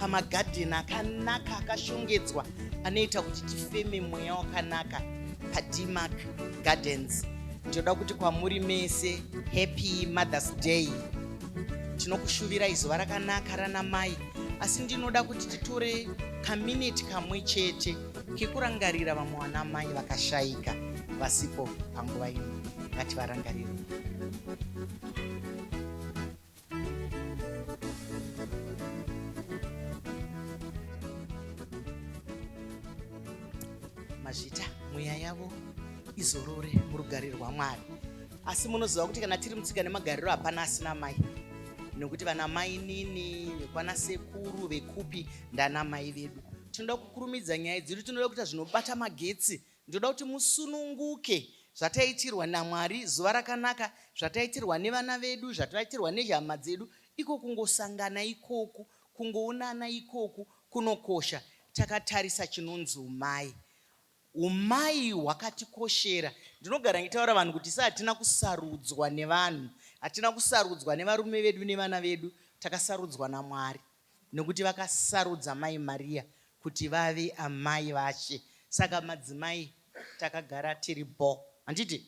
pamagadheni akanaka akashongedzwa anoita kuti tifeme mweya wakanaka padmark gardens ndinoda kuti kwamuri mese happy mothers day tinokushuvirai zuva rakanaka rana mai asi ndinoda kuti titore kamineti kamwe chete kekurangarira vamwe vana mai vakashaika vasipo panguva ino ngativarangarire mazvita mweya yavo izorore murugare rwamwari asi munoziva kuti kana tiri mutsika nemagariro hapana asina mai nekuti vana mai nini vekwana sekuru vekupi ndana mai vedu tinoda kukurumidza nyaya dzedu tinoda kuita zvinobata magetsi Ndoda kuti musununguke zvataitirwa naMwari zuva rakanaka zvataitirwa nevana vedu zvataitirwa nehama dzedu iko kungosangana ikoku kungoonana ikoku kunokosha takatarisa chinonzi umai umai hwakatikoshera ndinogara ngitaura vanhu kuti sa hatina kusarudzwa nevanhu hatina kusarudzwa nevarume vedu nevana vedu takasarudzwa naMwari Nokuti vakasarudza Mai Maria kuti vave amai vaShe. Saka madzimai takagara tiri bho. Handiti?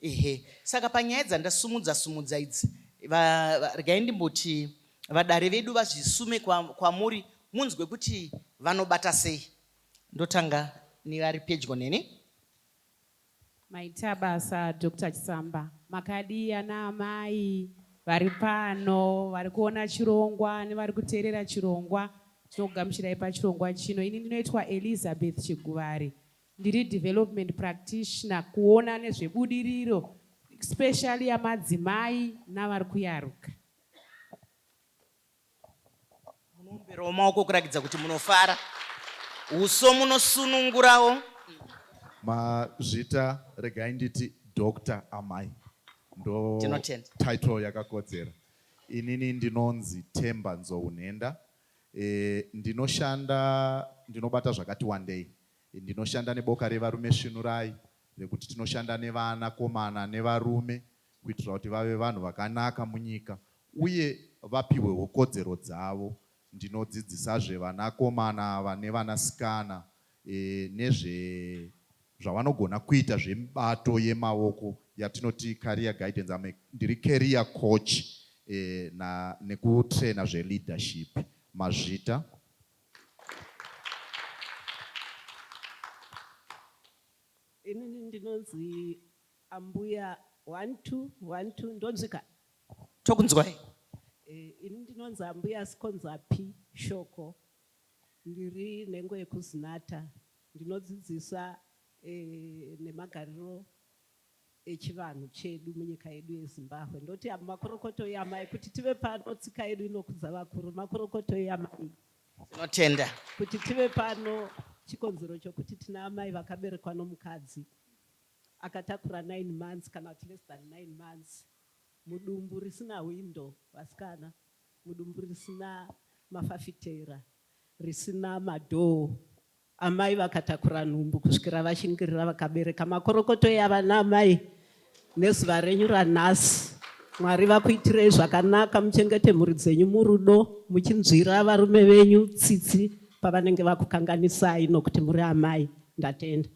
Ehe. Saka panyaya dzandasumudza sumudza idzi, va, va, regai ndimboti vadare vedu vazvisume kwa, kwamuri munzwe kuti vanobata sei. Ndotanga nevari pedyo neni. Maitabasa Doctor Chisamba makadii ana amai vari pano vari kuona chirongwa nevari kuteerera chirongwa tinokugamuchirai pachirongwa chino ini ndinoitwa Elizabeth Chiguvari ndiri development practitioner kuona nezvebudiriro especially yamadzimai navari kuyaruka. munoomberawo maoko kurakidza kuti munofara uso munosunungurawo mazvita regai nditi dr amai ndo title yakakodzera inini ndinonzi temba nzounhenda e, ndinoshanda ndinobata zvakati wandei ndinoshanda neboka revarume svinurai nekuti tinoshanda nevana komana nevarume kuitira kuti vave vanhu vakanaka munyika uye vapihwewo kodzero dzavo. Ndinodzidzisazve vanakomana ava nevanasikana nezve zvavanogona kuita zvemibato yemaoko yatinoti career guidance. I'm a, ndiri career coach na, nekutrainer zveleadership. Mazvita. Inini ndinonzi ambuya one two one two ndonzwika. Tokunzwai. Ini ndinonzi ambuya Sikonzapi Shoko ndiri nhengo yekuZinatha ndinodzidzisa nemagariro echivanhu chedu munyika yedu yeZimbabwe ndoti avo makorokoto yamai kuti tive pano tsika yedu inokudza vakuru makorokoto yamai tinotenda kuti tive pano chikonzero chokuti tina amai vakaberekwa nomukadzi akatakura 9 months kana kuti less than 9 months mudumbu risina hwindo vasikana mudumbu risina mafafitera risina madhoo Amai vakatakura nhumbu kusvikira vashingirira vakabereka makorokoto yava naamai nezuva renyu ranhasi. Mwari vakuitirei zvakanaka, muchengete mhuri dzenyu murudo, muchinzwira varume venyu tsitsi pavanenge vakukanganisai nokuti muri amai. Ndatenda.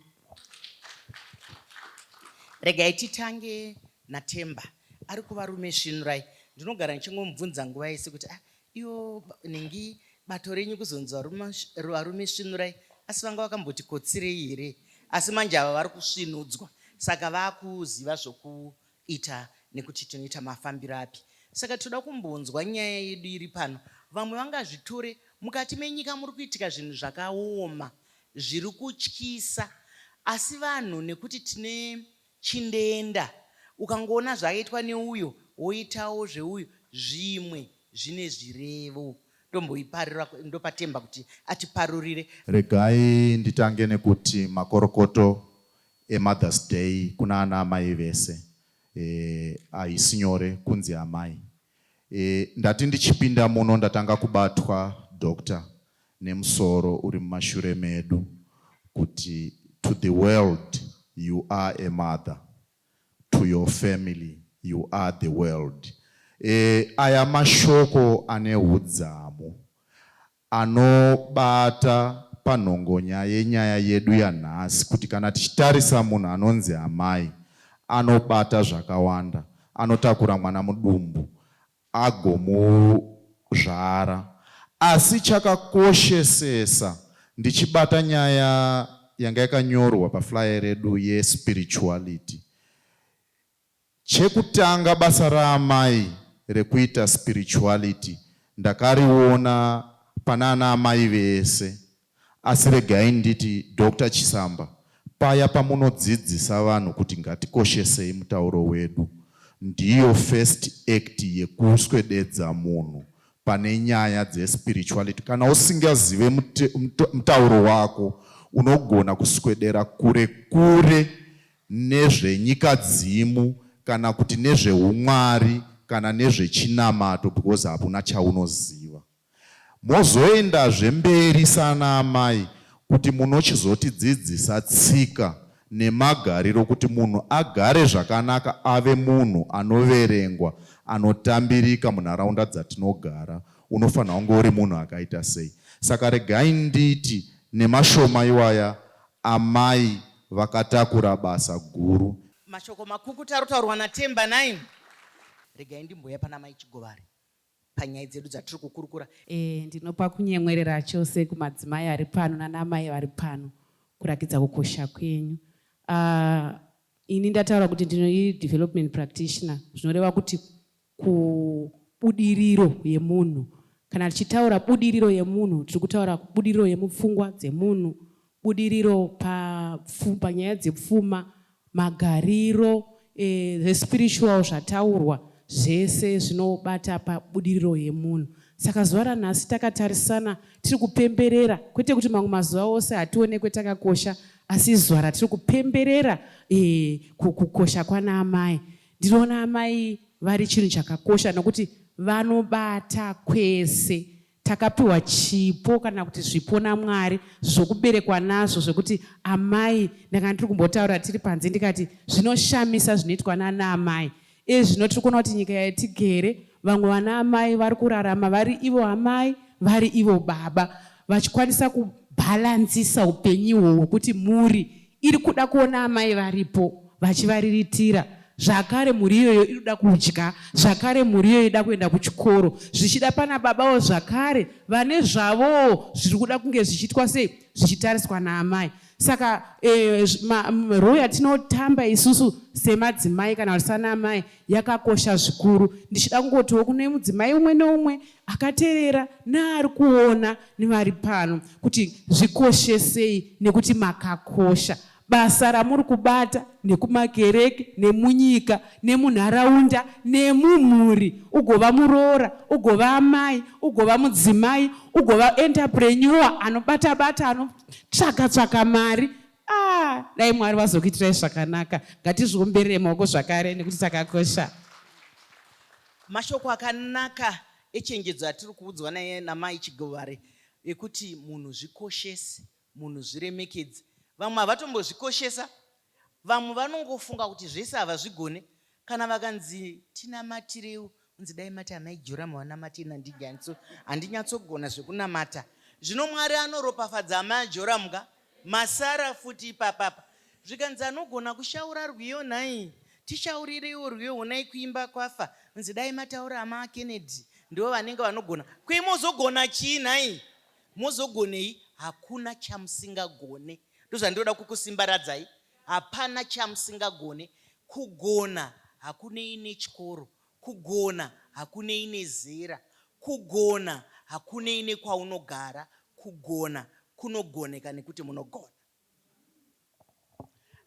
Regai titange naTemba ari kuvarume svinurai. Ndinogara ndichingomubvunza nguva yese kuti ah, Iwo nhingi bato renyu kuzonzi varume varume svinurai asi vanga vakamboti kotsirei here asi manje ava vari kusvinudzwa saka vakuziva zvokuita nekuti tinoita mafambiro api saka tinoda kumbonzwa nyaya yedu iri pano vamwe vangazvitore mukati menyika muri kuitika zvinhu zvakaoma zviri kutyisa asi vanhu nekuti tine Chindeenda ukangoona zvaitwa neuyo woitawo zveuyo zvimwe zvine zvirevo ndomboiparura ndopa Themba kuti atiparurire. Regai nditange nekuti makorokoto eMother's Day kuna ana amai vese, eh haisi nyore kunzi amai. E, ndati ndichipinda muno ndatanga kubatwa doctor nemusoro uri mumashure medu kuti to the world you are a mother to your family you are the world e, aya mashoko ane hudzamu anobata panhongonya yenyaya yedu yanhasi kuti kana tichitarisa munhu anonzi amai anobata zvakawanda, anotakura mwana mudumbu agomuzvara asi chakakoshesesa ndichibata nyaya yanga yakanyorwa paflyer redu ye spirituality Chekutanga basa raamai rekuita spirituality ndakariona panana amai vese asi regai nditi Doctor Chisamba paya pamunodzidzisa vanhu kuti ngatikoshesei mutauro wedu ndiyo first act yekuswededza munhu pane nyaya dzespirituality kana usingazive mutauro wako unogona kuswedera kure kure nezvenyikadzimu kana kuti nezvehumwari kana nezvechinamato because hakuna chaunoziva. Mozoendazve mberi sana amai kuti munochizotidzidzisa tsika nemagariro kuti munhu agare zvakanaka ave munhu anoverengwa anotambirika munharaunda dzatinogara unofanirwa kunge uri munhu akaita sei. Saka regai nditi nemashoma iwaya amai vakatakura basa guru. Mashoko makukutu ari kutaurwa naTemba nhaimi. Regai ndimbouya pana Mai Chigovari panyaya dzedu dzatiri kukurukura. E, ndinopa kunyemwerera chose kumadzimai ari pano nanamai vari pano kurakidza kukosha kwenyu. Uh, ini ndataura kuti ndino development practitioner zvinoreva kuti kubudiriro yemunhu. Kana tichitaura budiriro yemunhu tiri kutaura budiriro yemupfungwa dzemunhu, budiriro panyaya dzepfuma, magariro, e, the spiritual zvataurwa zvese zvinobata pabudiriro yemunhu. Saka zuva ranhasi takatarisana tiri kupemberera, kwete kuti mamwe mazuva ose hationekwe takakosha, asi zuva ratiri kupemberera e, kukosha kwana amai Ndinoona amai vari chinhu chakakosha nokuti vanobata kwese takapiwa chipo kana kuti zvipo namwari zvokuberekwa nazvo zvekuti amai ndanga ndiri kumbotaura tiri panze ndikati zvinoshamisa zvinoitwa nana amai iye zvino tiri kuona kuti nyika yatigere vamwe vana amai vari kurarama vari ivo amai vari ivo baba vachikwanisa kubhalanzisa upenyu ihwo hwekuti muri iri kuda kuona amai varipo vachivariritira zvakare mhuri iyoyo inoda kudya zvakare mhuri iyoyo ida kuenda kuchikoro zvichida pana babawo zvakare vane zvavowo zviri kuda kunge zvichiitwa sei zvichitariswa naamai saka eh, roo yatinotamba isusu semadzimai kana kuti sanaamai yakakosha zvikuru ndichida kungotiwo kune mudzimai umwe neumwe akaterera neari kuona nevari pano kuti zvikoshesei nekuti makakosha. Basa ramuri kubata nekumakereke nemunyika nemunharaunda nemumhuri ugova muroora, ugova amai, ugova mudzimai, ugova enterpreneur anobata bata anotsvaka tsvaka mari ah, dai Mwari vazokuitirai zvakanaka. Ngatizviomberei maoko zvakare nekuti takakosha. Mashoko akanaka echenjedzo atiri kuudzwa namai Chigovare ekuti munhu zvikoshese, munhu zviremekedze. Vamwe havatombozvikoshesa, vamwe vanongofunga kuti zvese havazvigone. Kana vakanzi tinamatirewo, unzi dai mati amai Joramu vanamate handinyatsogona zvekunamata. Zvino Mwari anoropafadza amai Joramu ka, Masara futi ipapapa. Zvikanzi anogona kushaura rwiyo nhai tishaurireiwo rwiyo honai kuimba kwafa nzi dai mataura ama Kennedy ndivo vanenge vanogona kwei mozogona chii nhai mozogonei hakuna chamusingagone ndozvandoda kukusimbaradzai hapana chamusingagone kugona hakunei nechikoro Kugona hakunei nezera. Kugona hakunei nekwaunogara. Kugona kunogoneka nekuti munogona.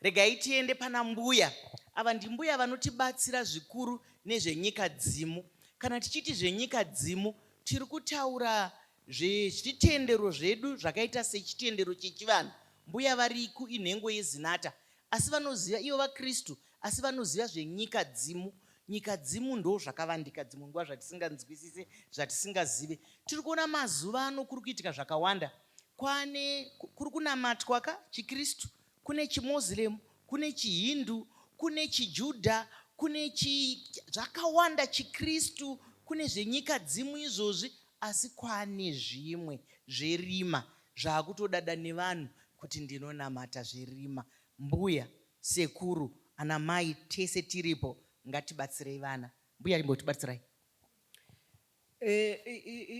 Regai tiende pana mbuya ava. Ndimbuya vanotibatsira zvikuru nezvenyikadzimu. Kana tichiti zvenyikadzimu tiri kutaura Zvezvitendero zvedu zvakaita sechitendero chechivanhu mbuya variku inhengo yezinata asi vanoziva ivo vakristu asi vanoziva zvenyika dzimu nyika dzimu ndo zvakavandika dzimwe nguva zvatisinganzwisise zvatisingazive tiri kuona mazuva ano kuri kuitika zvakawanda kwane kuri kunamatwa ka chikristu Kune chiMuslim, kune chiHindu, kune chiJudha, kune chi zvakawanda chiKristu, kune zvenyika dzimu izvozvi asi kwane zvimwe zverima zvakutodada nevanhu kuti ndinonamata zverima. Mbuya, sekuru, anamai tese tiripo ngatibatsirei vana. Mbuya imbotibatsirai.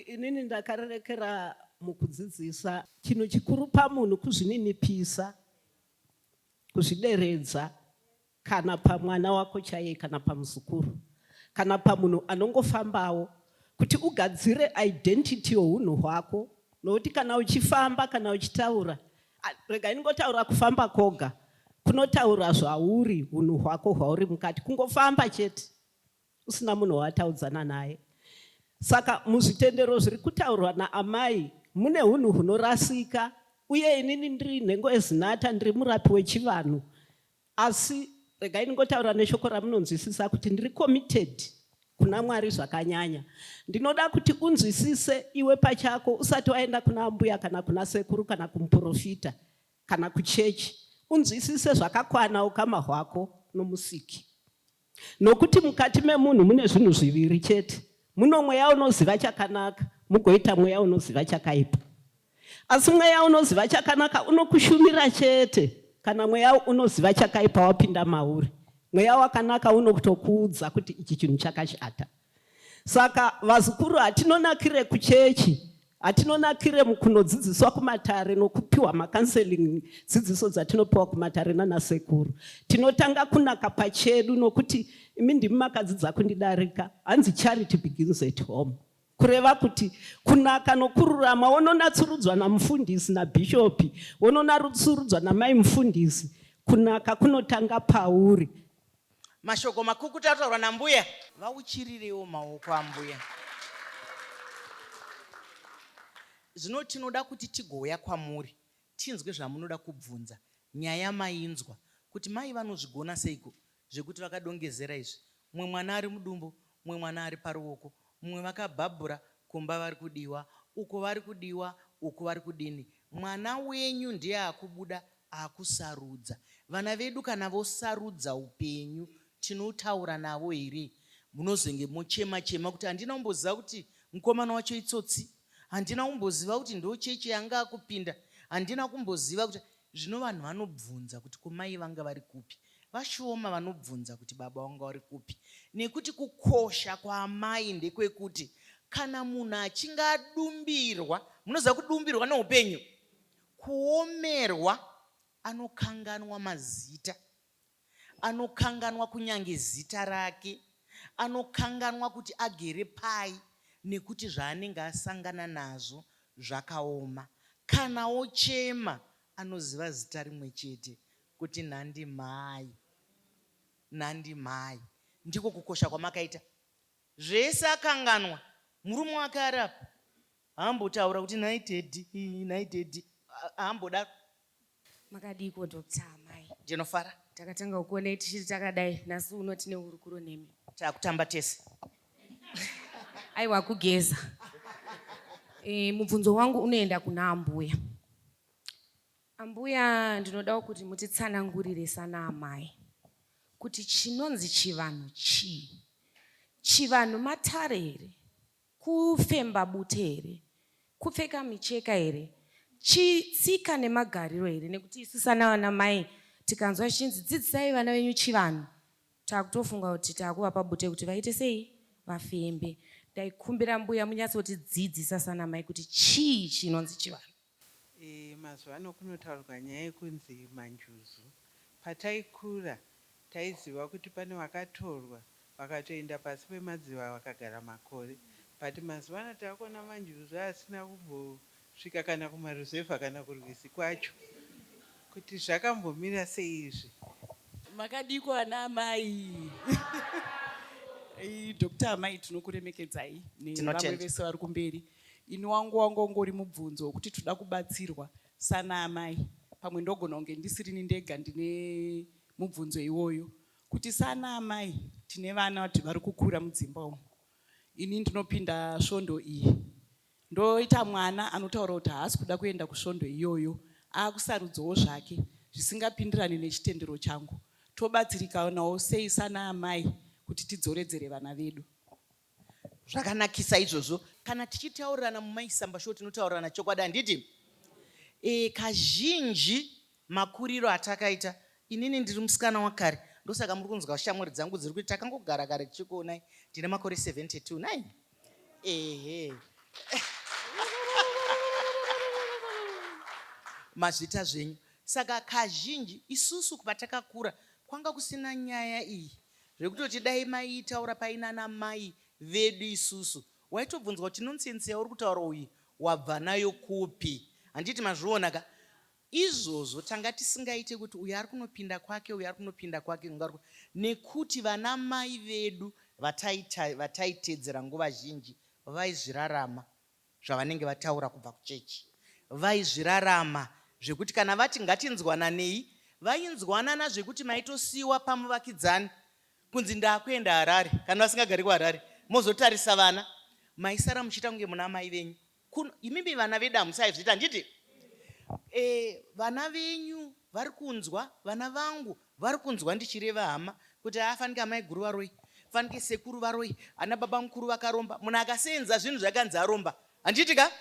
Inini ndakarerekera mukudzidzisa. Chinhu chikuru pamunhu kuzvininipisa, kuzvideredza kana pamwana wako chaiye kana pamuzukuru kana pamunhu anongofambawo kuti ugadzire identity yohunhu hwako nokuti kana uchifamba kana uchitaura rega inongotaura kufamba koga kunotaura zvauri hunhu hwako hwauri mukati kungofamba chete usina munhu waataudzana naye saka muzvitendero zviri kutaurwa naamai mune hunhu hunorasika uye inini ndiri nhengo ezinata ndiri murapi wechivanhu asi regai ndingotaura neshoko ramunonzwisisa kuti ndiri committed kuna mwari zvakanyanya ndinoda kuti unzwisise iwe pachako usati waenda kuna ambuya kana kuna sekuru kana kumuprofita kana kuchechi unzwisise zvakakwana ukama hwako nomusiki Nokuti mukati memunhu mune zvinhu zviviri chete, muno mweya unoziva chakanaka, mugoita mweya unoziva chakaipa. Asi mweya unoziva chakanaka unokushumira chete kana mweya unoziva chakaipa wapinda mauri. Mweya wakanaka unokutokuudza kuti ichi chinhu chakashata, Saka vazukuru hatinonakire kuchechi, hatinonakire mukunodzidziswa kumatare nokupiwa makanseling dzidziso dzatinopiwa kumatare nanasekuru. Tinotanga kunaka pachedu nokuti imi ndimi makadzidza kundidarika, hanzi charity begins at home. Kureva kuti kunaka nokururama wononatsurudzwa namufundisi nabhishopi, wononatsurudzwa namai mufundisi, kunaka kunotanga pauri. Mashoko makukutu ataurwa nambuya. Vauchirireiwo maoko ambuya. Zvino tinoda kuti tigouya kwamuri tinzwe zvamunoda kubvunza. Nyaya mainzwa kuti mai vanozvigona seiko zvekuti vakadongezera izvi. Mumwe mwana ari mudumbu, mumwe mwana ari paruoko, Mumwe vakabhabhura kumba vari kudiwa uko vari kudiwa uku vari kudini mwana wenyu ndiye akubuda akusarudza vana vedu kana vosarudza upenyu tinotaura navo here munozenge mochema chema kuti handina kumboziva kuti mukomana wacho itsotsi handina kumboziva kuti ndo chechi yanga akupinda handina kumboziva kuti Zvino vanhu vanobvunza kuti, Ko mai vanga vari kupi? Vashoma vanobvunza kuti, Baba wanga wari kupi? Nekuti kukosha kwaamai ndekwekuti kana munhu achinge adumbirwa, munoziva kudumbirwa neupenyu, kuomerwa, anokanganwa mazita Anokanganwa kunyange zita rake. Anokanganwa kuti agere pai nekuti zvaanenge asangana nazvo zvakaoma. Kana ochema anoziva zita rimwe chete kuti nhandi mhai, nhandi mhai. Ndiko kukosha kwamakaita. Zvese akanganwa. Murume wake ari apa haambotaura kuti nhai Teddy, nhai Teddy, haambodaro. Makadiiko doctor amai? Ndinofara. Takatanga kukuonai tichiri takadai nhasi uno tine hurukuro nemi. Takutamba tese. Aiwa kugeza. E, mubvunzo wangu unoenda kuna ambuya. Ambuya ndinodawo kuti mutitsanangurire sana amai kuti chinonzi chivanhu chii? Chivanhu matare here? Kufemba bute here? Kupfeka micheka here? Chii? Tsika nemagariro here? Nekuti isu sanavana mai tikanzwa zvichinzi dzidzisai vana venyu chivanhu takutofunga kuti takuvapa bute kuti vaite sei? Vafembe. Ndaikumbira mbuya munyatsoti dzidzisa sanamai kuti chii chinonzi chivanhu. Eeh mazuvano kunotaurwa nyaya yekunzi manjuzu. Pataikura taiziva kuti pane vakatorwa vakatoenda pasi pemadziva vakagara makore but mazuvano takuona manjuzu asina kumbosvika kana kumaruzevha kana kurwizi kwacho. Kuti zvakambomira sei izvi. Makadiiko ana amai Doctor amai tinokuremekedzai nevamwe vese vari kumberi. Ini wangu wanga ungori mubvunzo wekuti toda kubatsirwa sana amai pamwe ndogona kunge ndisirini ndega ndine mubvunzo iwoyo kuti sana amai tine vana vati vari kukura mudzimba umu ini ndinopinda svondo iyi ndoita mwana anotaura kuti haasi kuda kuenda kusvondo iyoyo akusarudzawo zvake zvisingapindirane nechitendero changu tobatsirikanawo sei sana amai kuti tidzoredzere vana vedu zvakanakisa izvozvo kana tichitaurirana mumaisamba sho tinotaurirana chokwadi handiti e, kazhinji makuriro atakaita inini ndiri musikana wakare ndosaka muri kunzwa shamwari dzangu dziri kuti takangogara kare tichikuonai ndine makore 72 nai ehe mazvita zvenyu saka kazhinji isusu patakakura kwanga kusina nyaya iyi Zvekutoti dai maitaura paina ana mai vedu isusu waitobvunzwa kuti nonsense yauri kutaura uyu wabva nayo kupi handiti mazviona ka izvozvo tanga tisingaite kuti uyu ari kunopinda kwake uyu ari kunopinda kwake kungarwa nekuti vana mai vedu vataita vataitedzera nguva zhinji vaizvirarama zvavanenge vataura kubva kuchechi vaizvirarama zvekuti kana vati ngatinzwananei vainzwanana zvekuti maitosiiwa pamuvakidzani kunzi ndakuenda Harare kana vasingagari kuHarare mozotarisa vana maisara muchiita kunge muna amai venyu kuno imimi vana vedu hamusaizviita handiti eh vana venyu vari kunzwa vana vangu Varikunzwa ndichireva hama kuti haa fanike amaiguru varoyi fanike sekuru varoyi ana baba mukuru vakaromba munhu akaseenza zvinhu zvakanzi aromba handiti ka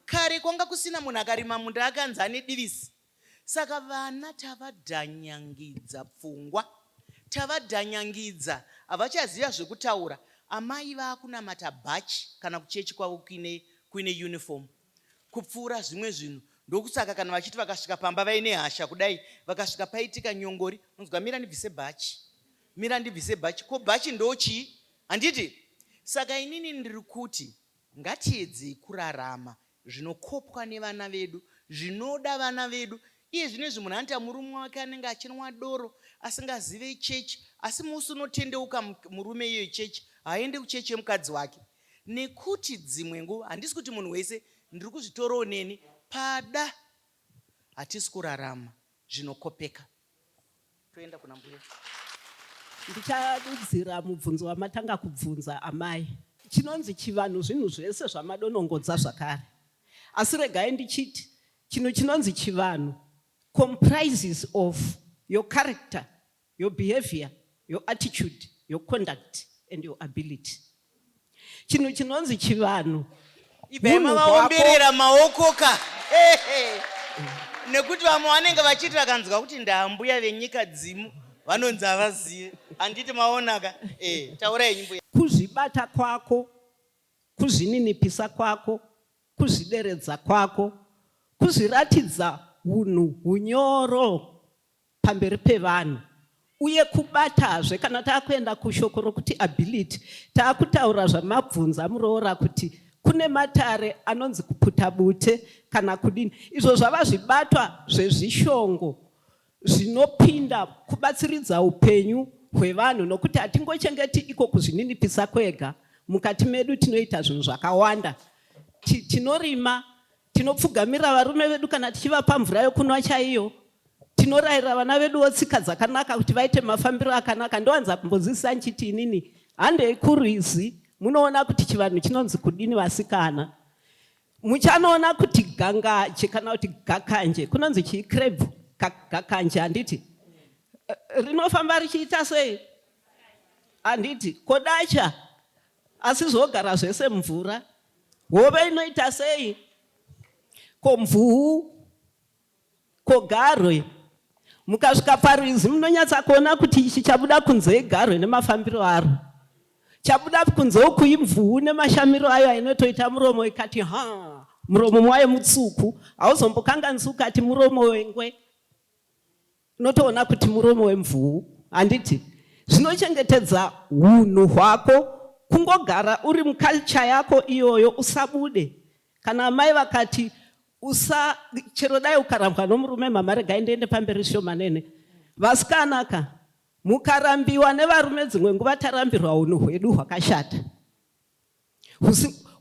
kare kwanga kusina munhu akarima munda akanzi ane divisi saka vana tavadhanyangidza pfungwa tavadhanyangidza havachaziva zvekutaura amai vakunamata bhachi kana kuchechi kwavo kuine kuine uniform kupfuura zvimwe zvinhu ndokusaka kana vachiti vakasvika pamba vaine hasha kudai vakasvika paitika nyongori unonzwa mira ndibvise bhachi mira ndibvise bhachi ko bhachi ndochii handiti saka inini ndiri kuti ngatiedzei kurarama zvinokopwa nevana vedu zvinoda vana vedu iye zvino izvi munhu anoita murume wake anenge achinwa doro asingazive chechi asi musi unotendeuka murume iyoyo chechi haaende kuchechi yemukadzi wake Nekuti dzimwe nguva handisi kuti munhu wese ndiri kuzvitorawo neni pada hatisi kurarama zvinokopeka toenda kuna mbuya. Ndichadudzira mubvunzo wamatanga kubvunza amai. Chinonzi chivanhu zvinhu zvese zvamadonongodza zvakare asi regai ndichiti chinhu chinonzi chivanhu comprises of your character your behavior, your attitude, your conduct and your ability. Chinhu chinonzi chivanhu. Ibvai mavaomberera maoko ka. Nekuti vamwe vanenge vachiti vakanzwa kuti ndaambuya venyika dzimu vanonzi havazive. Handiti maona ka. Eh, taurai nyimbo. Kuzvibata kwako, kuzvininipisa kwako, kuzvideredza kwako, kuzviratidza hunhu hunyoro. pamberi pevanhu uye kubatazve kana takuenda kushoko rokuti ability takutaura zvamabvunza muroora kuti kune matare anonzi kuputa bute kana kudini izvo zvava zvibatwa zvezvishongo zvinopinda kubatsiridza upenyu hwevanhu nokuti hatingochengeti iko kuzvininipisa kwega mukati medu tinoita zvinhu zvakawanda tinorima Tinopfugamira varume vedu kana tichivapa mvura yokunwa chaiyo. Tinorayira vana veduwo tsika dzakanaka kuti vaite mafambiro akanaka. Ndowanza kumbozivisa ndichiti inini handei kurwizi munoona kuti chivanhu chinonzi kudini vasikana. Muchanoona kuti gangaje kana kuti gakanje kunonzi chii krebhu gakanje handiti rinofamba richiita sei handiti kodacha Asi zvogara zvese mvura. Hove inoita sei? Ko mvuu? Ko garwe? Mukasvika parwizi munonyatsa kuona kuti ichi chabuda kunze igarwe nemafambiro aro. Chabuda kunze uku imvuu nemashamiro ayo ainotoita muromo ikati haa muromo mwayo mutsuku hauzombokanganisi ukati muromo wengwe Unotoona kuti muromo wemvuu handiti? Zvinochengetedza hunhu hwako kungogara uri muculture yako iyoyo usabude. Kana amai vakati usa chero dai ukarambwa nomurume mama regai ndiende pamberi shomanene. Vasikana ka mukarambiwa nevarume dzimwe nguva tarambirwa hunhu hwedu hwakashata.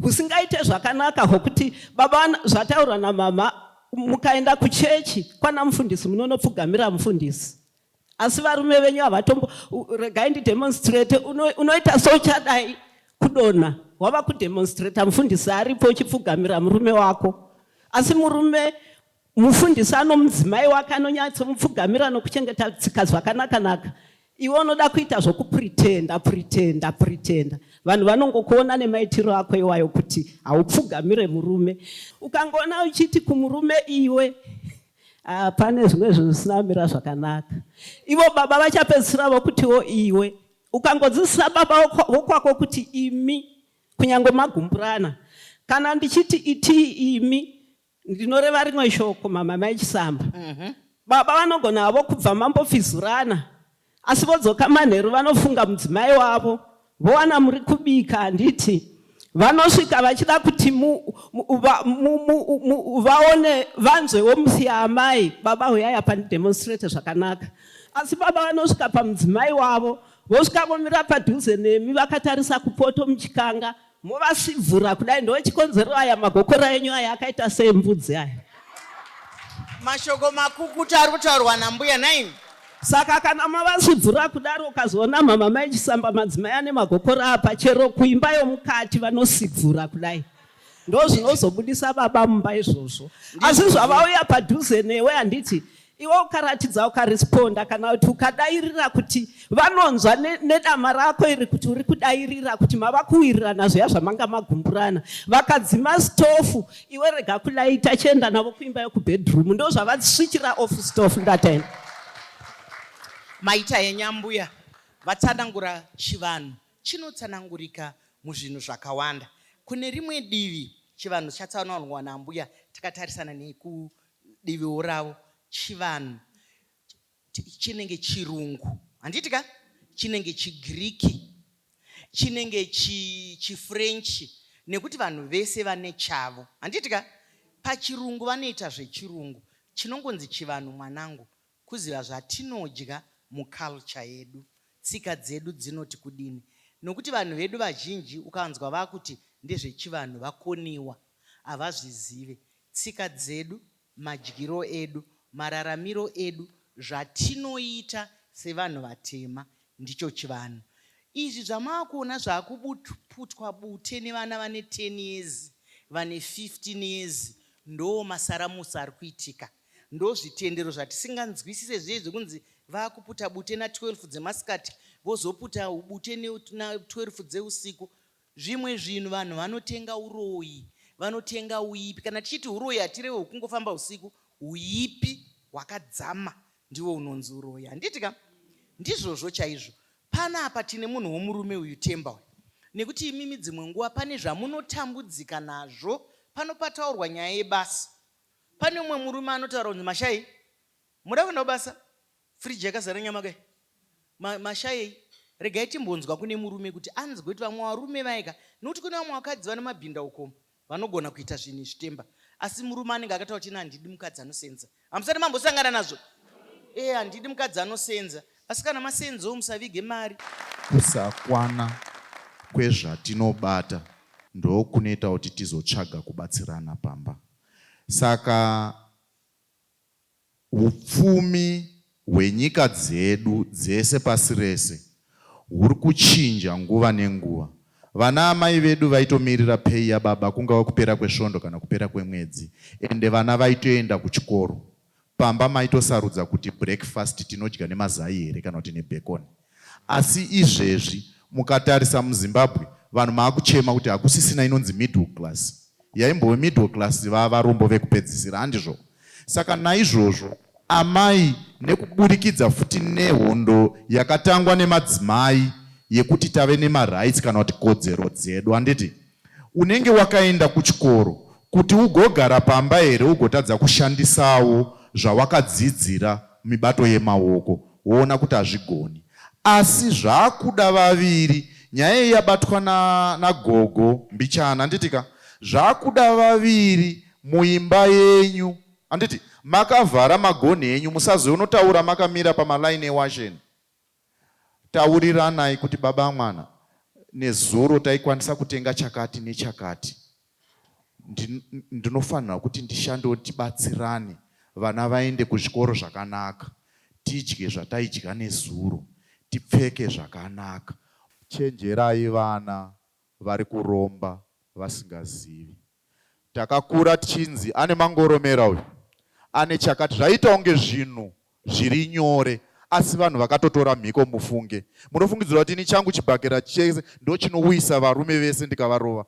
husingaite zvakanaka hwokuti baba zvataurwa namama mukaenda kuchechi kwana mufundisi munonopfugamira mufundisi asi varume venyu havatombo regai ndidemonstrate unoita souchadai kudonha wava kudemonstrata mufundisi aripo uchipfugamira murume wako asi murume Mufundisi anomudzimai wake anonyatsomupfugamira nokuchengeta tsika zvakanakanaka. Iwe unoda kuita zvokupretenda, pretenda, pretenda. Vanhu vanongokuona nemaitiro ako iwayo kuti haupfugamire murume. Ukangoona uchiti kumurume iwe, ah, pane zvimwe zvinhu zvisina kumira zvakanaka. Ivo baba vachapedzisira vokutiwo iwe. Ukangodzidzisa baba vokwako kuti imi, kunyange magumburana, kana ndichiti itii imi, Ndinoreva rimwe shoko mama mai Chisamba. Mm -hmm. Baba vanogona havo kubva mambofizurana asi vodzoka manheru vanofunga mudzimai wavo vowana muri kubika handiti vanosvika vachida kuti vaone vanzwewo musi yaamai baba huyai apa ndidemonstrate zvakanaka asi baba vanosvika pamudzimai wavo vosvika vomira padhuze nemi vakatarisa kupoto muchikanga Movasvibvura kudai ndochikonzero aya magokora enyu aya akaita seembudzi aya. Mashoko makukutu ari kutaurwa nambuya nhaimi. Saka kana mavasvibvura kudaro ukazoona mama mai chisamba madzimai ane magokora apa chero kuimba yomukati vanosibvura kudai ndozvinozobudisa baba mumba izvozvo asi zvavauya padhuze newe handiti Iwe ukaratidza ukaresponda kana kuti ukadairira kuti vanonzwa nedama rako iri kuti uri kudairira kuti mava kuwirirana zviya zvamanga magumburana vakadzima stofu iwe rega kulaita chienda navo kuimba yekubedroom ndo zvavaswichira off stofu ndataina maita yenyambuya vatsanangura chivanhu chinotsanangurika muzvinhu zvakawanda kune rimwe divi chivanhu chatsanangurwa nambuya takatarisana neku Diviwo ravo chivanhu chinenge chirungu handiti ka chinenge chigiriki chinenge chi chifrench nekuti vanhu vese vane chavo handiti ka pachirungu vanoita zvechirungu chinongonzi chivanhu mwanangu kuziva zvatinodya muculture yedu tsika dzedu dzinoti kudini nokuti vanhu vedu vazhinji ukanzwa vakuti ndezvechivanhu vakoniwa havazvizive Tsika dzedu, madyiro edu, mararamiro edu, zvatinoita sevanhu vatema ndicho chivanhu. Izvi zvamakuona zvakuputwa bute nevana vane 10 years vane 15 years ndoo masaramusi ari kuitika. Ndozvitendero zvatisinganzwisise zviye zvekunzi vakuputa bute na 12 dzemasikati vozoputa bute na 12 dzeusiku. Zvimwe zvinhu vanhu vanotenga uroyi, vanotenga uipi. Kana tichiti uroyi hatirewe hwekungofamba husiku, uipi hwakadzama ndiwo unonzi uroyi. Handiti ka? Ndizvozvo chaizvo. Panapa tine munhu womurume uyu Themba uyu. Nekuti imimi dzimwe nguva pane zvamunotambudzika nazvo, pano pataurwa nyaya yebasa. Pane umwe murume anotaura kunzi, Mashai, muda kuenda kubasa? Fridge yakazara nyama ka ma, mashayei. Regai timbonzwa kune murume kuti anzwe kuti vamwe varume vaye ka nokuti kune vamwe vakadzi vane mabhinda ukomu vanogona kuita zvinhu izvi temba asi murume anenge akataura kuti ina handidi mukadzi anosenza hamusati mambosangana nazvo ee eh, handidi mukadzi anosenza asi kana masenzawo musavige mari kusakwana kwezvatinobata ndokunoita kuti tizotsvaga kubatsirana pamba saka Upfumi hwenyika dzedu dzese pasi rese huri kuchinja nguva nenguva. Vana amai vedu vaitomirira pay yababa kungava kupera kwesvondo kana kupera kwemwedzi ende vana vaitoenda kuchikoro. Pamba maitosarudza kuti breakfast tinodya nemazai here kana kuti nebhekoni. Asi izvezvi mukatarisa muZimbabwe vanhu maakuchema kuti hakusisina inonzi middle class. Yaimbove middle class vavarombo vekupedzisira handizvo? Saka naizvozvo amai nekuburikidza futi nehondo yakatangwa nemadzimai yekuti tave nemarights kana kuti kodzero dzedu handiti? Unenge wakaenda kuchikoro kuti ugogara pamba here ugotadza kushandisawo zvawakadzidzira mibato yemaoko woona kuti hazvigoni. Asi zvakuda vaviri nyaya iyi yabatwa na nagogo mbichana handitika zvakuda vaviri muimba yenyu handiti makavhara magonhi enyu musazonotaura makamira pamaline ewasheni Tauriranai kuti baba amwana nezuro taikwanisa kutenga chakati nechakati. Ndinofanirwa kuti ndishandewo tibatsirane vana vaende kuzvikoro zvakanaka, tidye zvataidya nezuro, tipfeke zvakanaka. Chenjerai vana vari kuromba vasingazivi. Takakura tichinzi ane mangoromera uyu, ane chakati zvaiita kunge zvinhu zviri nyore asi vanhu vakatotora mhiko mufunge. Munofungidzira kuti ini changu chibhakera chese ndochinouyisa varume vese ndikavarova?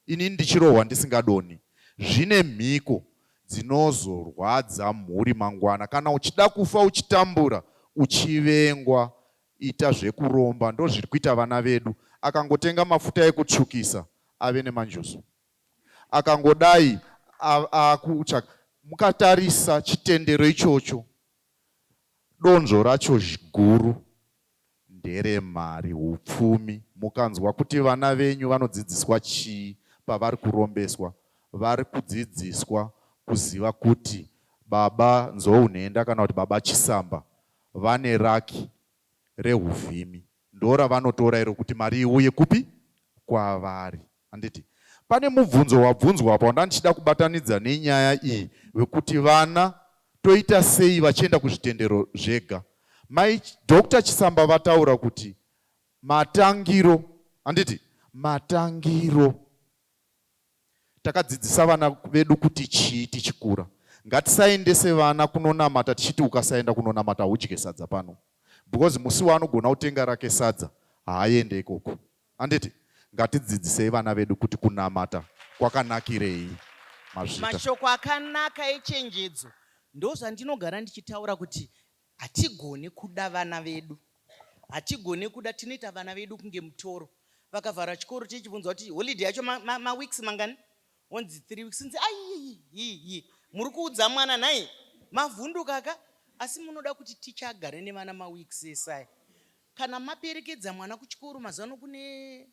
Ini ndichirohwa ndisingadonhi. Zvine mhiko dzinozorwadza mhuri mangwana kana uchida kufa uchitambura uchivengwa Ita zvekuromba ndozviri kuita vana vedu akangotenga mafuta ekutsvukisa ave nemanjuzu akangodai akutsvaka mukatarisa chitendero ichocho donzvo racho guru ndere mari hupfumi mukanzwa kuti vana venyu vanodzidziswa chii pavari kurombeswa vari kudzidziswa kuziva kuti baba Nzou nhenda kana kuti baba Chisamba Vane raki rehuvhimi ndoravanotora iro kuti mari iuye kupi? Kwavari. Handiti? Pane mubvunzo wabvunzwa apa wandandichida kubatanidza nenyaya iyi wekuti vana toita sei vachienda kuzvitendero zvega. Mai Doctor Chisamba vataura kuti matangiro, handiti? Matangiro Takadzidzisa vana vedu kuti chii tichikura. Ngatisaendese vana kunonamata tichiti ukasaenda kunonamata haudye sadza pano because musi waanogona kutenga rake sadza haaende ikoko. Handiti? Ngatidzidzisei vana vedu kuti kunamata kwakanakirei. Mazvita. Mashoko akanaka echenjedzo ndozvandinogara ndichitaura kuti Hatigone kuda vana vedu. Hatigone kuda tinoita vana vedu kunge mutoro. Vakavhara chikoro tichibvunzwa kuti holiday yacho ma, ma, ma weeks mangani? Onzi three weeks. Nzi ayiyiyiyi muri kuudza mwana nhai? Mavhunduka ka? Asi munoda kuti ticha agare nevana ma weeks esaya? Kana maperekedza mwana kuchikoro mazuvano kune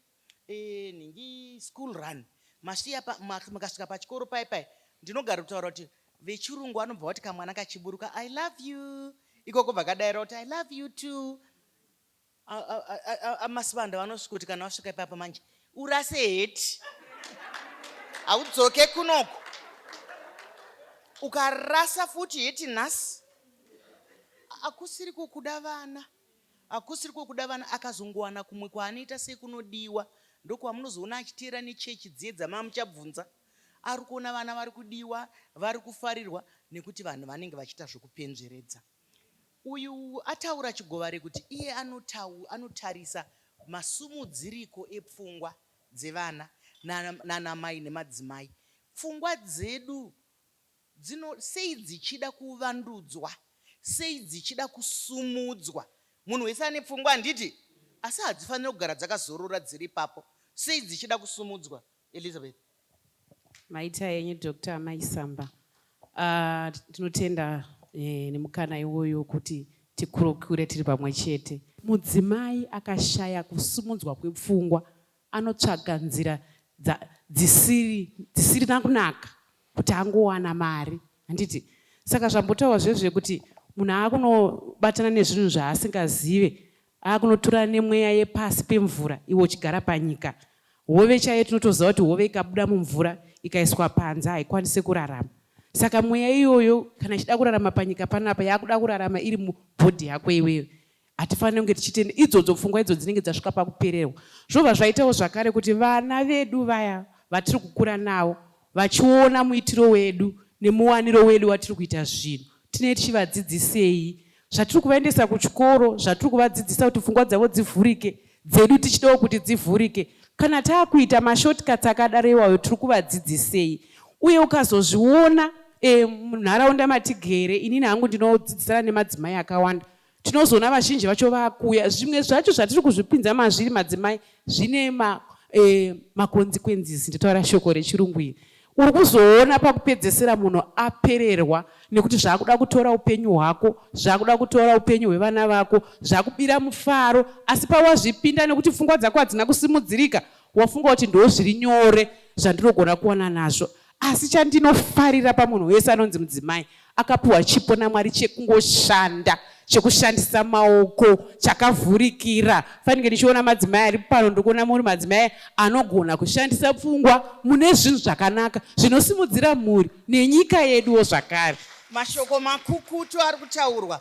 Eeh nhingi school run masiya pa mukasvika pachikoro paye paye ndinogara kutaura kuti vechirungu vanobva vati kamwana kachiburuka I love you ikoko bva kadaira kuti I love you too amasibanda vanosvika kuti kana wasvika ipapa manje urase heti haudzoke kunoko ukarasa futi heti nhasi akusiri kukuda vana Hakusiri kwekuda vana akazongowana kumwe kwaanoita sekunodiwa ndokwamunozoona achiteera nechechi dziye dzamamuchabvunza arikuona vana varikudiwa varikufarirwa nekuti vanhu vanenge vachiita zvekupenzveredza uyu ataura chigovare kuti iye anotarisa masumudziriko epfungwa dzevana nanamai nemadzimai pfungwa dzedu Dzino sei dzichida kuvandudzwa, sei dzichida kusumudzwa. Munhu wese ane pfungwa, handiti? Asi hadzifanire kugara dzakazorora dziri ipapo. Sei dzichida kusumudzwa, Elizabeth? Maita henyu Doctor Amai Samba. Uh, tinotenda eh, nemukana iwoyo wekuti tikurukure tiri pamwe chete. Mudzimai akashaya kusumudzwa kwepfungwa anotsvaga nzira dza, dzisiri, dzisirina kunaka kuti angowana mari, handiti? Saka zvambotaurwa zviya zvekuti munhu aakunobatana nezvinhu zvaasingazive, aakunotura nemweya yepasi pemvura iwe uchigara panyika. Hove chaiyo tinotoziva kuti hove ikabuda mumvura ikaiswa panze haikwanise kurarama. Saka mweya iyoyo kana ichida kurarama panyika panapa yakuda kurarama iri mubhodhi yako iwewe. Hatifanire kunge tichitenda idzodzo pfungwa idzo dzinenge dzasvika pakupererwa. Zvobva zvaitawo zvakare kuti vana vedu vaya vatiri kukura navo vachiona muitiro wedu nemuwaniro wedu watiri kuita zvinhu, tinee tichivadzidzisei zvatiri kuvaendesa kuchikoro, zvatiri kuvadzidzisa kuti pfungwa dzavo dzivhurike, dzedu tichidawo kuti dzivhurike. Kana taakuita mashortcuts akadaro iwayo tiri kuvadzidzisei? Uye ukazozviona e, munharaunda matigere, inini hangu ndinodzidzisana nemadzimai akawanda tinozoona vazhinji vacho vakuuya zvimwe zvacho zvatiri kuzvipinza mazviri madzimai zvine ma, eh, maconsequences nditaura shoko rechirungu iri uri kuzoona pakupedzesera munhu apererwa nekuti zvaakuda kutora upenyu hwako zvaakuda kutora upenyu hwevana vako zvakubira mufaro asi pawazvipinda nekuti pfungwa dzako hadzina kusimudzirika wafunga kuti ndoo zviri nyore zvandirogona kuwana nazvo Asi chandinofarira pamunhu wese anonzi mudzimai akapiwa chipo naMwari chekungoshanda chekushandisa maoko chakavhurikira fanike ndichiona madzimai ari pano ndikuona muri madzimai anogona kushandisa pfungwa mune zvinhu zvakanaka zvinosimudzira mhuri nenyika yeduwo zvakare mashoko makukutu ari kutaurwa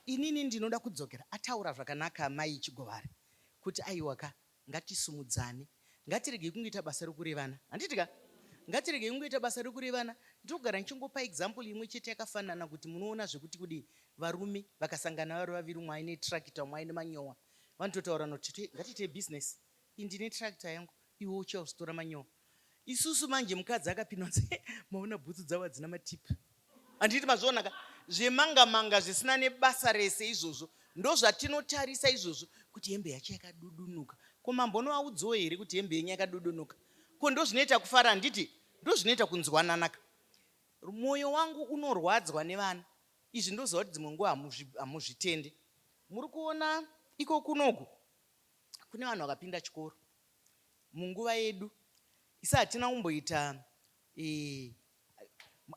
inini ndinoda kudzokera ataura zvakanaka amai chigovare kuti aiwaka Ngatisumudzane. Ngatiregei kungoita basa rokurevana. Handiti ka? Ngatiregei kungoita basa rokurevana. Ndinogara ndichingopa example imwe chete yakafanana kuti munoona zvekuti kudii. Varume vakasangana vari vaviri umwe aine tractor umwe aine manyowa. Vanototaurirana kuti tete ngatiitei business. Ini ndine tractor yangu iwe uchautora manyowa. Isusu manje mukadzi akapinwa nzi eh, maona bhutsu dzavo hadzina matip. Handiti mazvionaka zvemanga manga zvisina nebasa rese izvozvo ndozvatinotarisa izvozvo kuti hembe yacho yakadudunuka. Ko mambo unovaudzawo here kuti hembe yenyu yakadudunuka? Ko ndozvinoita kufara handiti ndozvinoita kunzwananaka. Mwoyo wangu unorwadzwa nevana izvi ndoziva kuti dzimwe nguva hamuzvitende. Muri kuona iko kunoku kune vanhu vakapinda chikoro munguva yedu isi hatina kumboita eh,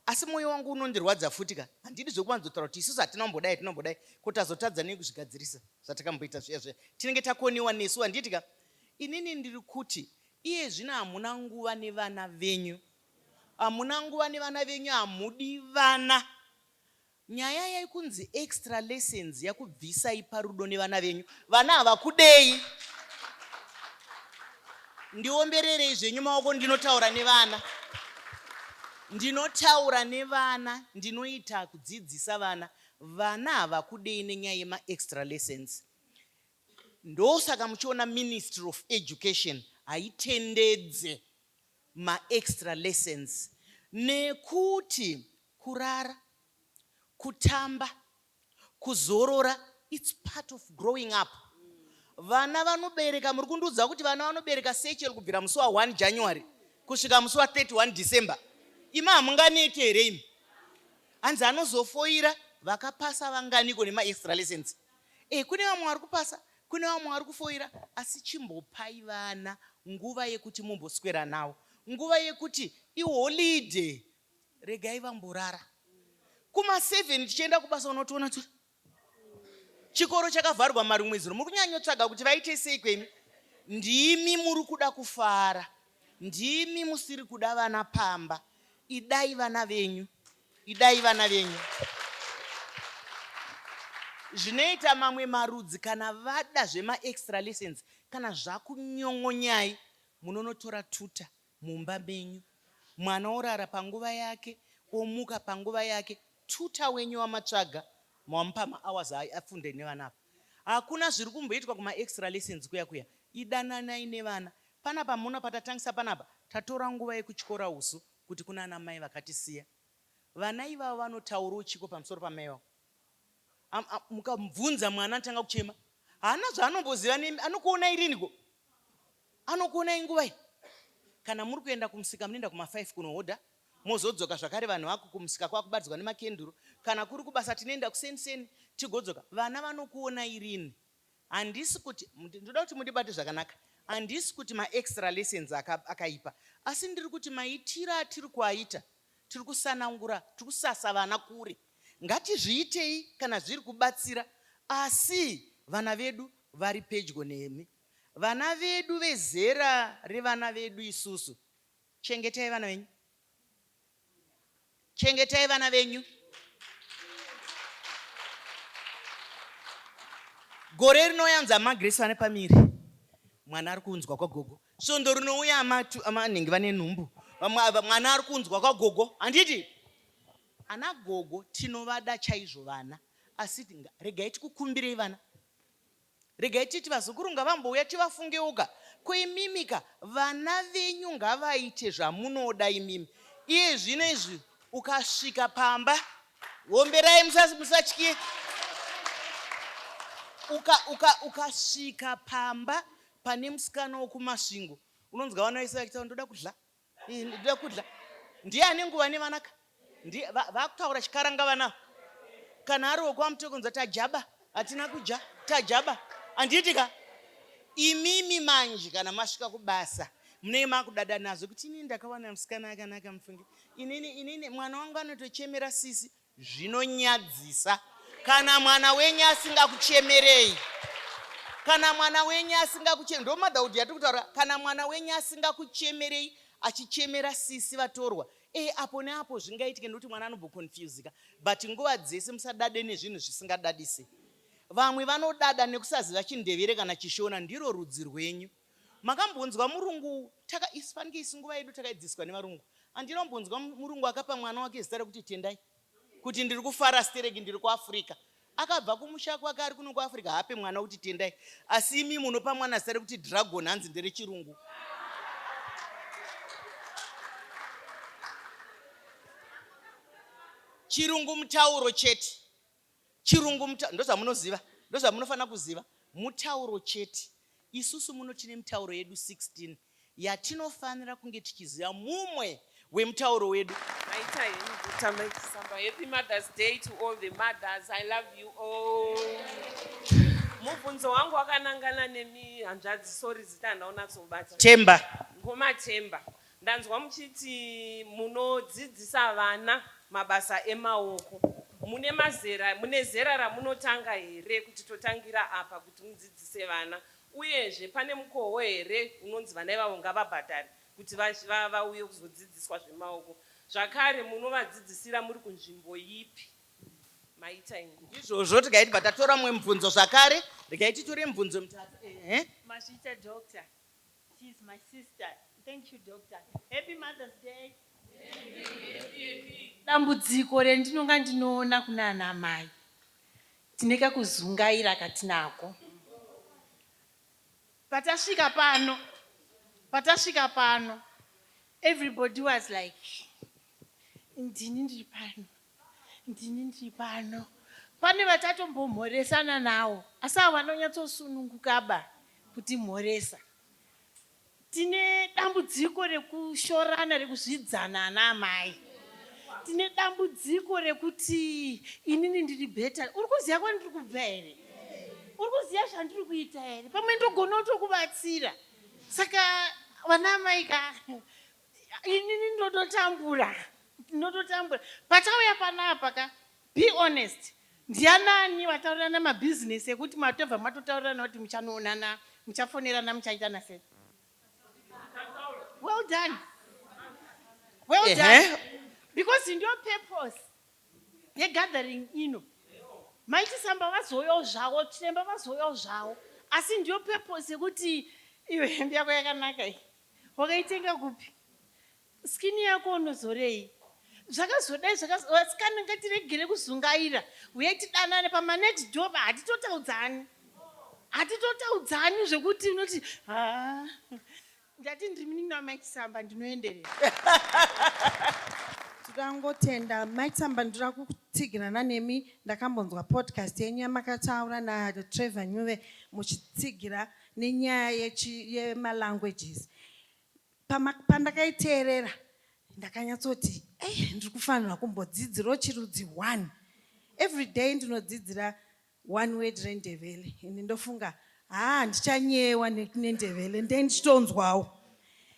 asi mwoyo wangu unondirwadza futi ka handidi zvekuwanzotaura kuti isusu hatina kumbodai hatina kumbodai ko tazotadza nei kuzvigadzirisa zvatakamboita zviya zviya tinenge takoniwa nesu handiti ka inini ndiri kuti iye zvino hamuna nguva nevana venyu hamuna nguva nevana venyu hamudi vana Nyaya yekunzi extra lessons yakubvisai parudo nevana venyu. Vana havakudei. Ndiombererei zvenyu maoko ndinotaura nevana. Ndinotaura nevana, ndinoita kudzidzisa vana. Vana havakudei nenyaya yema extra lessons. Ndosaka muchiona Ministry of Education haitendedze ma extra lessons nekuti kurara, kutamba, kuzorora its part of growing up. Vana vanobereka, muri kundiudza kuti vana vanobereka sechel kubvira musi wa 1 January kusvika musi wa 31 December. Imi hamunganeti here imi? Hanzi anozofoira vakapasa vanganiko nema extra lessons. Eh kune vamwe vari kupasa Kune vamwe vari kufoira asi chimbopai vana nguva yekuti mumboswera navo nguva yekuti iholiday regai vamborara. Kuma seven tichienda kubasa unotoona kuti chikoro chakavharwa marumwezuro muri kunyanyotsvaga kuti vaite sei kwemi. Ndimi muri kuda kufara, ndimi musiri kuda vana pamba. Idai vana venyu. Idai vana venyu. Zvinoita mamwe marudzi kana vada zvema extra lessons kana zvakunyon'onyai munonotora tuta mumba menyu. Mwana orara panguva yake omuka panguva yake. Tuta wenyu wamatsvaga mamupa ma hours afunde nevana apa. Hakuna zviri kumboitwa kuma extra lessons kuya kuya. Idananai nevana. Panapa muona patatangisa panapa tatora nguva yekutyora usu kuti kunana mai vakatisiya vana ivavo vanotauroo chiko pamusoro pamai ivavo am, am, mukabvunza mwana anotanga kuchema haana zvaanomboziva nemi anokuonai riniko anokuonai nguvai kana muri kuenda kumusika munoenda kuma 5 kunohodha mozodzoka zvakare vanhu vaku kumusika kwakubatidzwa nemakenduru kana kuri kubasa tinoenda kuseni seni tigodzoka vana vanokuonai rini Handisi kuti ndoda kuti mundibate zvakanaka. Handisi kuti maextra lessons aka, akaipa. Asi ndiri kuti maitiro atiri kuaita, tiri kusanangura, tiri kusasa vana kure. Ngatizviitei kana zviri kubatsira asi vana vedu vari pedyo nemi. Vana vedu vezera revana vedu isusu. Chengetai vana venyu. Chengetai vana venyu. Gore rinouya anzi amaGrace vane pamiri. Mwana ari kunzwa kwagogo. Svondo rinouya amanenge vane nhumbu. Mwana ari kunzwa kwagogo. Handiti? Ana gogo tinovada chaizvo vana. Asi regai tikukumbirei vana. Regai titi vazukuru ngavambouya tivafungeuka ko imimika vana venyu ngavaite zvamunoda imimi iyezvino izvi ukasvika pamba homberai musatye ukasvika uka, uka pamba pane musikana wekumasvingo unonzwa vana vese vachitaura ndoda kudla ndoda kudla ndiye ane nguva nevanaka ndiye vakutaura chikaranga vana kana ari wekwamuti kunza tajaba hatina kudya tajaba handiti ka imimi manje kana masvika kubasa munenge makudada nazvo kuti inini ndakawana musikana akanaka mufunge inini inini mwana wangu anotochemera sisi Zvinonyadzisa kana mwana wenyu asingakuchemerei. Kana mwana wenyu asingakuchemerei. Ndo motherhood yatiri kutaura. Kana mwana wenyu asingakuchemerei achichemera sisi vatorwa. Eh apo neapo zvingaitike nekuti mwana anobhoconfusika. But nguva dzese musadade nezvinhu zvisingadadise. Vamwe vanodada nekusaziva chindevere kana chishona ndiro rudzi rwenyu. Makambonzwa murungu taka isu pange isu nguva yedu takaidziswa nevarungu. Andina kumbonzwa murungu akapa mwana wake zita rekuti Tendai kuti ndiri kufara stereki ndiri kuAfrica. Akabva kumusha kwake ari kuno kuAfrica haape mwana kuti Tendai asi imi munopa mwana zita rekuti Dragon hanzi ndere chirungu. Chirungu mutauro chete. Chirungu muta, ndozvamunoziva, ndozvamunofanira kuziva. Mutauro chete. Isusu muno tine mitauro yedu 16 yatinofanira kunge tichiziva mumwe wemutauro wedu. Maita henyu guta maisamba. Happy Mother's Day to all the mothers. I love you all. Mubvunzo wangu wakanangana nemi hanzvadzi, sorry zita handaunatsobata. Themba. Ngoma Themba. Ndanzwa muchiti munodzidzisa vana mabasa emaoko. Mune mazera, mune zera ramunotanga here kuti totangira apa kuti mudzidzise vana? Uyezve pane mukoho here unonzi vana ivavo ngavabhadhare kuti vauye kuzodzidziswa zvemaoko? Zvakare munovadzidzisira muri kunzvimbo ipi? Maita ingu. Izvozvo tikayiti batatora mwe mubvunzo zvakare, rikayi titore mubvunzo mitatu. Ehe. Mazvita doctor. She is my sister. Thank you doctor. Happy Mother's Day. Dambudziko rendinonga ndinoona kunana mai tine kakuzungaira katinako. Patasvika pano, patasvika pano everybody was like ndini ndiri pano. Ndini ndiri pano. Pane vatatombomhoresana nawo asi avo vanonyatsosunungukaba kutimhoresa. Tine dambudziko rekushorana, rekuzvidzana ana amai. Tine dambudziko rekuti inini ndiri better. Uri kuziva kwandiri kubva here? Uri kuziva zvandiri kuita here? Pamwe ndogona kutokubatsira. Saka vana amai ka inini ndototambura ndototambura patauya panapa ka be honest ndianani vataurirana mabhizinesi ekuti matobva matotaurirana kuti muchanoonana muchafonerana muchaitana sei well done well done because ndiyo purpose yegathering ino maitisamba vazouyawo zvavo chiremba vazouyawo zvavo asi ndiyo purpose yekuti iyo hembe yako yakanaka iyi Wakaitenga kupi? Skin yako unozorei? Zvakazodai zvakaz vasikana ngatiregere kuzungaira huyai tidanane pama next door pa hatitotaudzani. Hatitotaudzani zvekuti unoti haa ndati ndiri munin'ina wamai Chisamba ndinoenderera. Tinoda kungotenda mai Chisamba ndoda kutsigirana nemi ndakambonzwa podcast yenyu yamakataura na Trevor Nyuve muchitsigira nenyaya yechi yema languages Pama, pandakaiteerera ndakanyatsoti eish ndiri kufanirwa kumbodzidzirawo chirudzi one every day ndinodzidzira one word rendevele and ndofunga haa ndichanyeyewa nendevele ndee ndichitonzwawo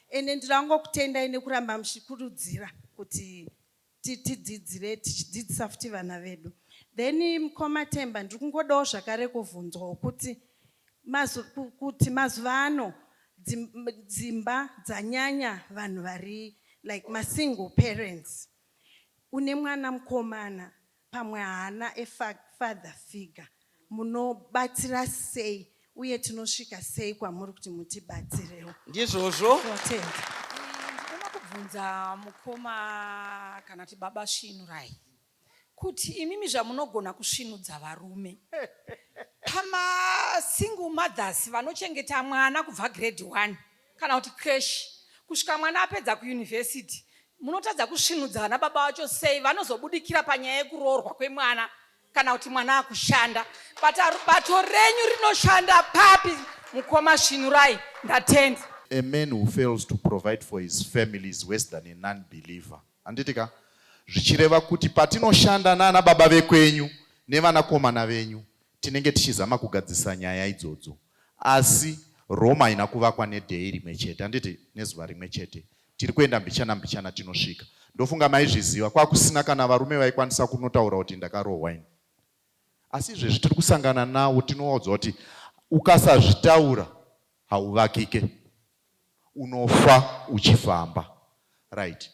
ende ndiri kutendai nekuramba muchikurudzira kuti kuti tidzidzire tichidzidzisa futi vana vedu. Then mkoma Themba ndiri kungodawo zvakare kuvhunzwawo kuti mazu, kuti mazuva ano dzimba dzanyanya vanhu vari like masingle parents. Une mwana mukomana Pamwe haana a father figure. Munobatsira sei uye tinosvika sei kwamuri kuti mutibatsirewo? Ndizvozvo. Totenda. Ndinoda kubvunza mukoma kana kuti baba Svinurai kuti imimi zvamunogona kusvinudza varume pama single mothers vanochengeta mwana kubva grade one kana kuti creche kusvika mwana apedza kuyunivhesiti munotadza kusvinudza vana baba vacho sei vanozobudikira panyaya yekuroorwa kwemwana kana kuti mwana akushanda but bato renyu rinoshanda papi mukoma svinurai ndatenda a man who fails to provide for his family is worse than a non believer handiti ka zvichireva kuti patinoshanda nana baba vekwenyu nevanakomana venyu Tinenge tichizama kugadzirisa nyaya idzodzo asi Rome haina kuvakwa neday rimwe chete handiti nezuva rimwe chete tiri kuenda mbichana mbichana tinosvika ndofunga maizviziva kwakusina kana varume vaikwanisa kunotaura kuti ndakarohwa ini asi izvezvi tiri kusangana nawo tinowaudzwa kuti ukasazvitaura hauvakike unofa uchifamba right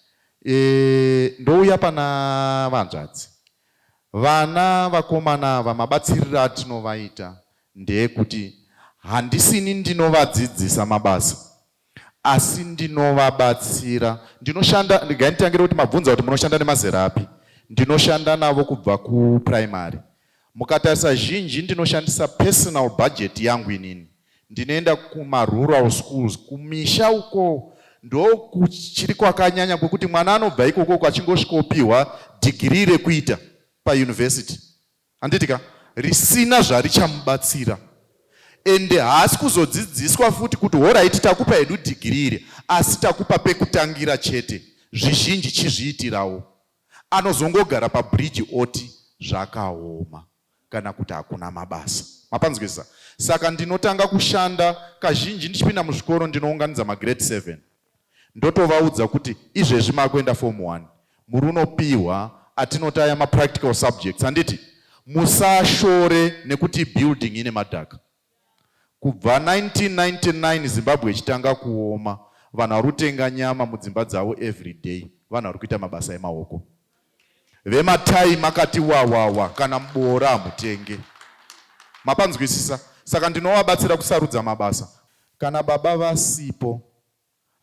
eeh ndouya pana vanzvadzi vana vakomana ava mabatsiriro atinovaita ndeekuti handisini ndinovadzidzisa mabasa asi ndinovabatsira ndinoshanda ndigainditangire kuti mabvunza kuti munoshanda nemazera api ndinoshanda navo kubva kuprimary Mukatarisa zhinji ndinoshandisa personal budget yangu inini. Ndinoenda kuma rural schools kumisha uko ndokuchiri kwakanyanya kwekuti mwana anobva ikoko uko achingosvikopihwa dhigirii rekuita pauniversity. Handiti ka? Risina zvarichamubatsira ende haasi kuzodzidziswa futi kuti horaiti takupa hedu dhigiri iri asi takupa pekutangira chete zvizhinji chizviitirawo anozongogara pabridge oti zvakaoma kana kuti hakuna mabasa. Mapanzwisisa? Saka ndinotanga kushanda kazhinji ndichipinda muzvikoro ndinounganidza magrade 7 ndotovaudza kuti izvezvi makuenda form 1 muri unopihwa atinoti aya mapractical subjects handiti musashore nekuti building ine madhaka Kubva 1999 Zimbabwe ichitanga kuoma, vanhu vari kutenga nyama mudzimba dzavo everyday, vanhu vari kuita mabasa emaoko. Vematai makati wawawa, kana muboora hamutenge. Mapanzwisisa? Saka ndinovabatsira kusarudza mabasa. Kana baba vasipo,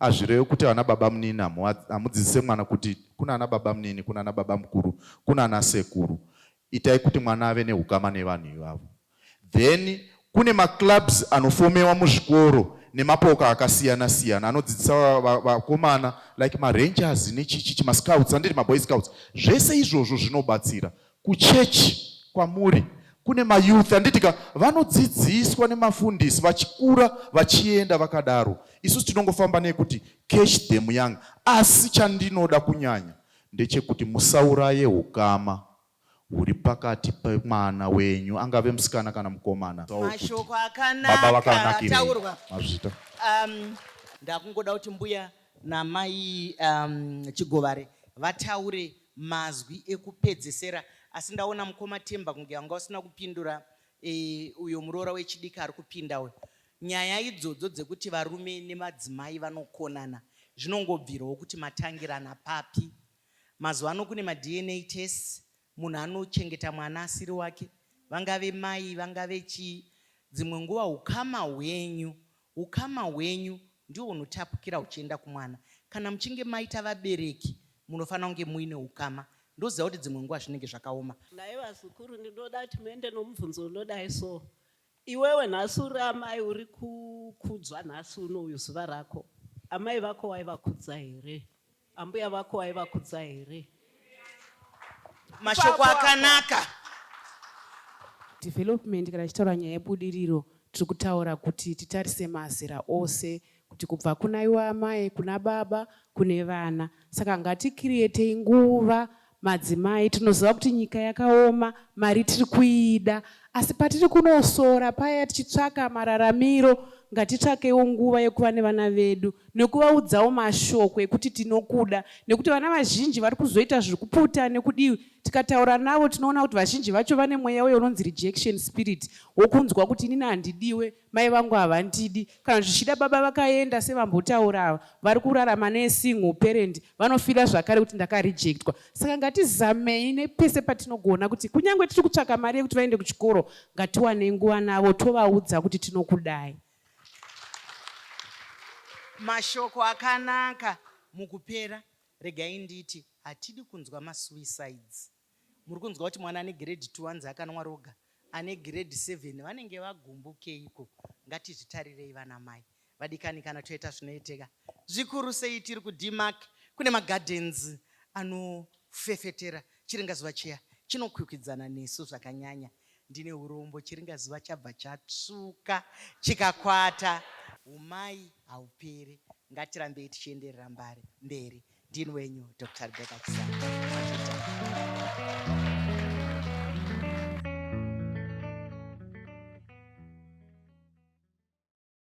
Azvirewe kuti ana babamunini hamudzidzise mwana kuti kuna ana babamunini, kuna ana babamukuru, kuna ana sekuru. Itai kuti mwana ave nehukama nevanhu ivavo. Then kune maclubs anofomewa muzvikoro nemapoka akasiyana siyana anodzidzisa vakomana like marangers nechichichi mascouts anditi maboy scouts. Zvese izvozvo zvinobatsira Kuchechi kwamuri kune mayouth anditika vanodzidziswa nemafundisi vachikura vachienda vakadaro. Isusu tinongofamba nekuti catch them young. Asi chandinoda kunyanya ndechekuti musauraye ukama huri pakati pemwana wenyu angave musikana kana mukomana. Mashoko akanaka ataurwa mazvita. Um, ndakungoda kuti mbuya namai um, Chigovare vataure mazwi ekupedzesera asi ndaona mukoma Themba kunge wanga usina kupindura eh, uyo muroora wechidiki ari kupinda uyo. Nyaya idzodzo dzekuti varume nemadzimai vanokonana zvinongobvirawo kuti matangirana papi. Mazuva ano kune maDNA tests, munhu anochengeta mwana asiri wake, vangave mai, vangave chii, dzimwe nguva ukama hwenyu Hukama hwenyu ndihwo hunotapukira huchienda kumwana. Kana muchinge maita vabereki munofanira kunge muine hukama. Ndoziva kuti dzimwe nguva zvinenge zvakaoma. Nhai vazukuru ndinoda kuti muende nomubvunzo unodai so. Iwewe nhasi uri amai uri kukudzwa nhasi uno uyu zuva rako. Amai vako waivakudza here? Ambuya vako aivakudza here? Mashoko akanaka. Development kana tichitaura nyaya yebudiriro tiri kutaura kuti titarise mazera ose kuti kubva kuna iwe amai kuna baba kune vana saka ngatikiriyetei nguva Madzimai tinoziva kuti nyika yakaoma, mari tiri kuida asi patiri kunosora paya tichitsvaka mararamiro ngatitsvakewo nguva yekuva nevana vedu nekuvaudzawo mashoko ekuti tinokuda nekuti vana vazhinji vari kuzoita zviri kuputa nekudii tikataura navo tinoona kuti vazhinji vacho vane mweya uyo unonzi rejection spirit wokunzwa kuti inini handidiwe Mai vangu havandidi kana zvichida baba vakaenda sevambotaura ava vari kurarama nesingle parent vanofila zvakare kuti ndakarejectwa saka ngatizamei nepese patinogona kuti kunyange tiri kutsvaka mari yekuti vaende kuchikoro ngatiwane nguva navo tovaudza kuti tinokudai mashoko akanaka mukupera regai nditi hatidi kunzwa masuicides Muri kunzwa kuti mwana ane grade two anzi akanwa roga ane grade seven vanenge vagumbukeiko ngatizvitarirei vana mai vadikani kana toita zvinoiteka zvikuru sei tiri kuDmark kune magardens anofefetera chiringazuva chiya chinokwikwidzana nesu zvakanyanya ndine urombo chiringazuva chabva chatsvuka chikakwata umai haupere ngatirambei tichienderera mbari mberi Dean wenyu Dr. Rebecca